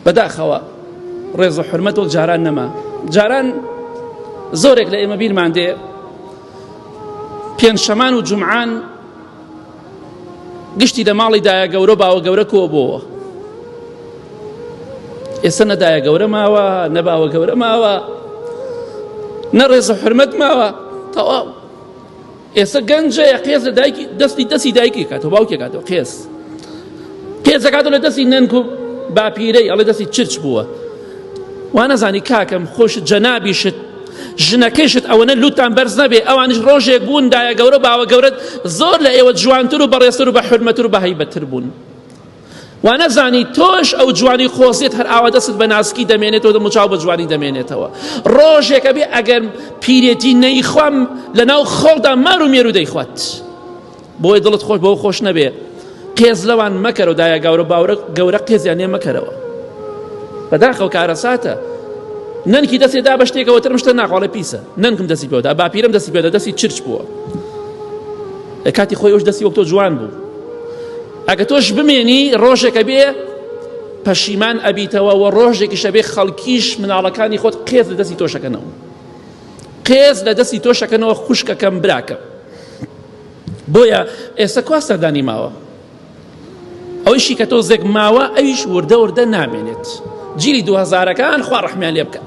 بەداخەوە ڕێز و حرمەت وەک جاران نەما جاران زۆرێک لە ئێمە بیرمان دێ پێنجشەمان و جمعان گشتی لە ماڵی دایە گەورە باوە گەورە کۆ بۆەوە ئێستا نەدایە گەورە ماوە نەباوە گەورە ماوە نەڕێز و حرمەت ماوە تەواو ئێستا گەنجە قێز لە دایکی دەستی دەستی دایکی کاتەوە باوکی کاتەوە قێز قێزەکاتەوە لە دەستی نەنک و باپیرەی ئەڵێ دەستی چرچ بووە وانەزانی کاکەم خۆش جەنابیشت ژنەکەشت ئەوەنە لوتان بەرز نەبێ ئەوانش ڕۆژێک بوون دایە گەورە باوە گەورەت زۆر لە ئێوە جوانتر و بەڕێسەر و بە حرمەتر و بەهیبەتر بوون وانەزانی تۆش ئەو جوانی خۆزیت هەر ئاوا دەستت بە ناسکی دەمێنێتەوە دەم و چاو بە جوانی دەمێنێتەوە ڕۆژێک ئەبێ ئەگەر پیرێتی نەیخوام لەناو خۆڵدا مار و مێرو دەیخوات بۆی دڵت خۆش بەو خۆش نەبێ قێز لەوان مەکەرەوە دایە گەورە باورە گەورە قێزیان لێ مەکەرەوە بەداخەوە کارەساتە نەنکی دەستی دا بە شتێکەوە ترم شتە ناخواڵە پیسە نەنکم دەستی پێدا باپیرم دەستی پێدا دەستی چرچ بووە لە کاتی خۆی ئەوش دەستی وەک تۆ جوان بوو ئەگە تۆش بمێنی ڕۆژێکە بێ پەشیمان ئەبیتەوە و ڕۆژێکیشە بێ خەڵکیش مناڵەکانی خۆت قێز لە دەستی تۆشەکەنەوە قێز لە دەستی تۆشەکەنەوە خوشکەکەم براکە بۆیە ئێستا کوا سەردانی ماوە ئەویشی کە تۆ زێک ماوە ئەویش وردە وردە نامێنێت جیلی دوهزارەکان خوا ڕحمیان لێ بکە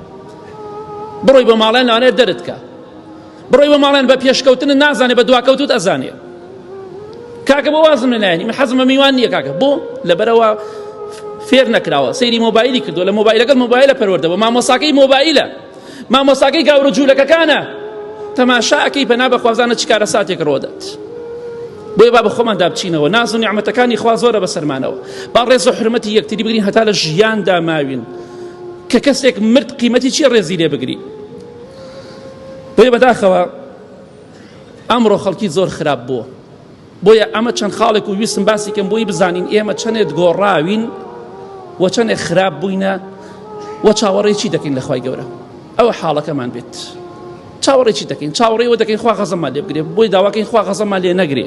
بڕۆی بە ماڵێن نانێت دەرتکە بڕۆی بۆ ماڵێن بە پێشکەوتن نازانێ بە دواکەوتوت ئەزانێ کاکە بۆ وازم لە نایانی من حەزمە میوان نییە کاکە بۆ لەبەرەوە فێر نەکراوە سەیری مۆبایلی کردو لە مۆبایلەکەت مۆبایلە پەروەردەوە مامۆساکەی مۆبایلە مامۆساکەی گاورە جوولەکەکانە تەماشاکەی پەنا بە خوازانە چکارە ساتێک ڕۆدەت بۆیە با بە خۆمان دابچینەوە ناز و نیعممەتەکانی خوا زۆرە بە سەرمانەوە با ڕێز و حرمەتی یەکتری بگرین هەتا لە ژیاندا ماوین کە کەسێک مرد قیمەتی چی ڕێزی لێ بگری بۆیە بەداخەوە ئەمڕۆ خەڵکی زۆر خراپ بووە بۆیە ئەمە چەند خاڵێک و ویستم باسی کەم بۆی بزانین ئێمە چەندێت گۆڕاوین و چەندێک خراپ بووینە و چاوەڕێکی دەکەین لەخوای گەورە ئەوە حاڵەکەمان بێت چاوەڕێکی دەکەین چاوەڕێەوە دەکەین خوا غەزەمان لێ بگرێ بۆی داواکەین خوا غەزەمان لێ نەگرێ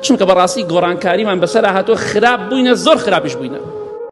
چونکە بەڕاستی گۆڕانکاریمان بەسەر هاتۆ خراپ بووینە زۆر خراپیش بووینە